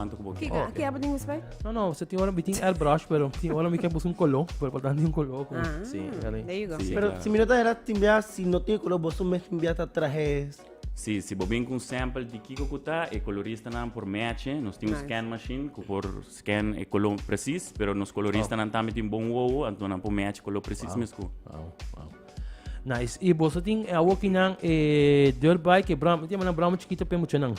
Kiko, aki abo tin espai? No, no, se tin ora mi tin airbrush, pero tin ora mi ke bus un kolo, pero pa tanti un kolo. Ah, sí, there you go. Sí, pero claro. si mi no ta hera timbia, si no tin kolo, boso mes timbia ta trahes. Sí, si bo bin ku un sample di kiko ku ta, e koloristanan por mèche. Nos tin un nice. scan machine ku por scan e kolo presis, pero nos koloristanan tambe tin bon wowo, anto nan por mèche kolo presis wow. mes ku. Wow, wow. Nice. Y boso tin e awokinan e dirt bike, e bramo, tiene manan bramo chiquito pe muchanan.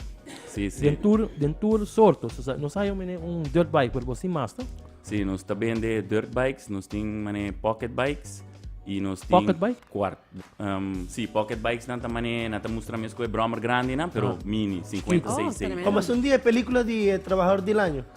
Sí, sí. Den tour, den tour sorto. So, sa- no sa yo mene un dirt bike, pero bosin mas, no? Sí, nos ta bende dirt bikes, nos tin mané pocket bikes y nos tin Pocket bike? cuart. Um, sí, pocket bikes nan ta mané, nan ta mustra mesco e brommer grande nan, pero Ah. mini, 50, Oh, 6, 6. tenemos. Como es un día de película de eh, Trabajador del Año.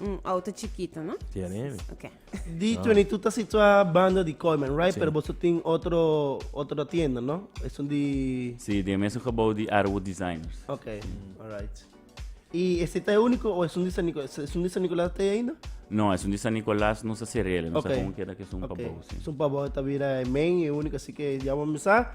Un auto chikito, no? Dia neve. Ok. D22 ta situá banda di Coleman, right? Sí. Pero boso tin otro otro tienda, no? Esun di Sí, di mesmo gebouw di Arrow Designers. Ok, alright. Y ese ta e único o esun di San Nicolás? Esun di San Nicolás ta ainda? No, esun di San Nicolás no sa serele, no okay. sa con queda que son okay. pabouw, sí. Son pabouw ta vira e main e único, así que ya vamos a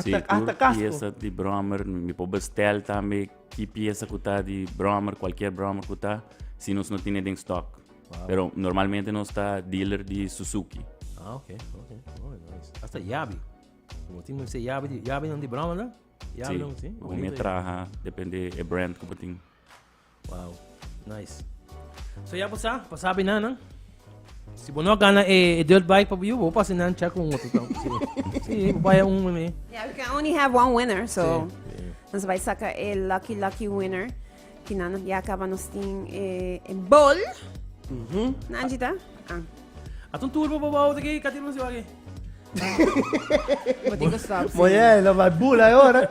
Si tur piesa di brommer mi por bestel tambe ki piesa ku ta di brommer kualkier brommer ku ta si nos no tine den stock pero normalmente nos ta dealer di suzuki. Ah ok ok muy nice asta yabi bo tin mester yabi di yabinan di brommernan yabinan si bonito yabi si bo mi a traha depende e brand ku bo tin. Wow, nice. So ya bo sa, pa sabi na nan. Si bo no gana e, e dirt bike pa bo bo pasi nan chak un otro tau. Si, si, bo baya un meme. Yeah, we can only have one winner, so. Dan se bai saka e lucky lucky winner. Ki nan ya acaba nos tin e, e bol. Mhm. Nan jita? Ah. Atun tour bo bo bo out aqui, cadê você vai aqui? Vou ter que stop. Moye, lo vai bula agora.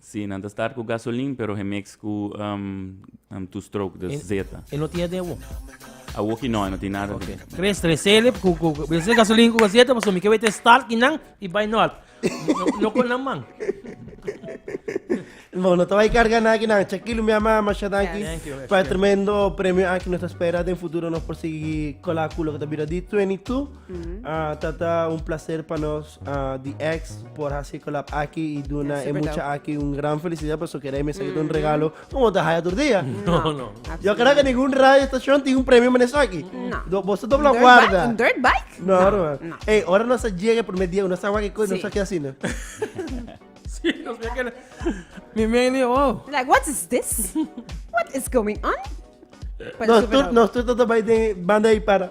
Sí, nan ta start cu gasolin pero gemix cu two stroke dus zeta. E no tin aden awo? Awoki no, no tin nada okay. de. Tres, tres selip, cu, cu, cu, bese gasolina cu gazeta, paso mi que vete start y nan, y by not. No, no con nan man. Bom, no vai carga na aqui, não. Chequilo, minha mamãe, machada aqui. Para tremendo prêmio aqui, nós espera de futuro nós conseguir colar culo que tá vira de 22. Tata un placer pa nos di ex por haci collab aki y duna e mucha aki un gran felicidad paso keda e mester kita un regalo como ta haya tur dia. Yo keda ke ningun radio estacion tin un premio men esaki. Do boso do bla guarda. Un dirt bike? No no. Ey ora nos a jega e primer dia nos a wak nos a ke asina. Mi meni oh. Like what is this? What is going on? Nos tur nos tur tata bay den banda y para.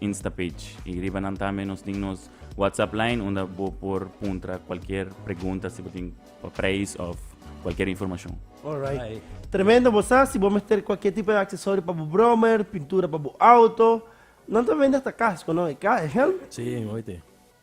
Instapage. Y riba nan tambe nos tin nos WhatsApp line unda bo por puntra cualquier pregunta si bo tin pa prijs of cualquier informacion. Alright. Tremendo bo sa, si bo mester cualquier tipo de accesorio pa bo brommer, pintura pa bo auto, nan ta vende hasta casco, no? E helm? Sí, oite.